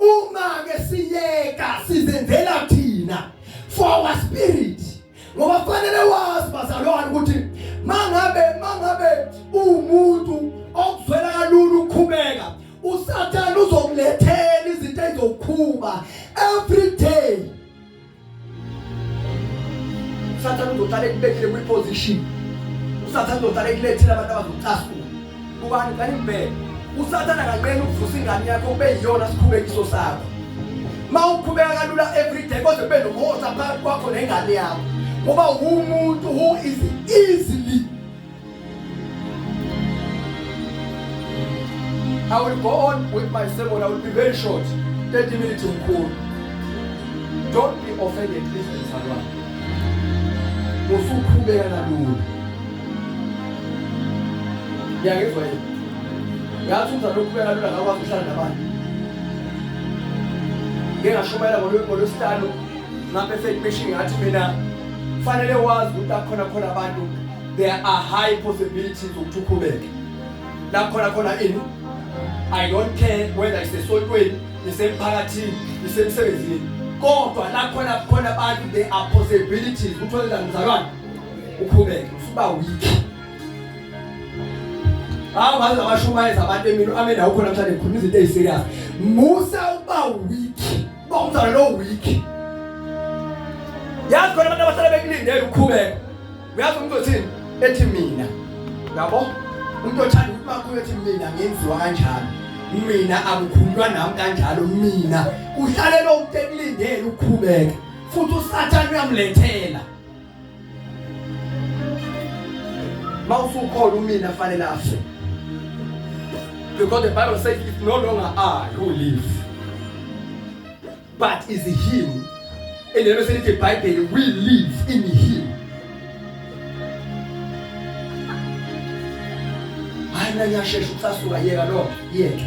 uma ke siyeka sizenzela thina for our spirit ngoba kufanele wazi bazalwane ukuthi mangabe mangabe umuntu okuzwela kalula ukukhubeka usathane uzokulethela izinto ezokukhuba every day usathane uzohlala ekubekile kwi-position usathane uzohlala ekulethile abantu abazokucasula kubani kani mbele usathane akanqeni ukuvusa ingane yakho kube yiyona sikhubekiso sakho ma uqhubeka kalula everyday kodwa kube nomhosa phakathi kwakho nengane yakho ngoba wumuntu who is easily I will go on with my sermon. I will be very short. 30 minutes in cool. Don't be offended, please, mzalwane. Usukhubeka nalula. Ngiyangizwa yini? Ngathi umzalwane ukhubeka nalula ngakwazi ukuhlala nabantu. Ngeke ngashumayela ngolwesihlanu ngapha efekipeshini ngathi mina kufanele wazi ukuthi akhona khona abantu there are high possibilities ukuthi ukhubeke la khona khona ini i don't care whether isesontweni isemphakathini isemsebenzini kodwa la khona khona abantu there are possibilities ukuthi wenza mzalwane ukhubeke usuba weak hawu baze abashumayeza abantu emini amen awukho namhlanje ngikhuluma izinto eziserious musa uba weak uba umzalwane lo weak yazi khona abantu abahlala bekulindele ukukhubeka uyazi umuntu othini ethi mina yabo umuntu othanda ukuthi makhulu ethi mina ngenziwa kanjalo mina akukhulunywa nami kanjalo mina uhlale lo muntu ekulindele ukukhubeka futhi usathane uyamlethela mawusukhona umina fanele afe because the bible says if no longer are you live but is him and the message the bible we live in him hayi nanyashesha ukusasuka yeka lo yeke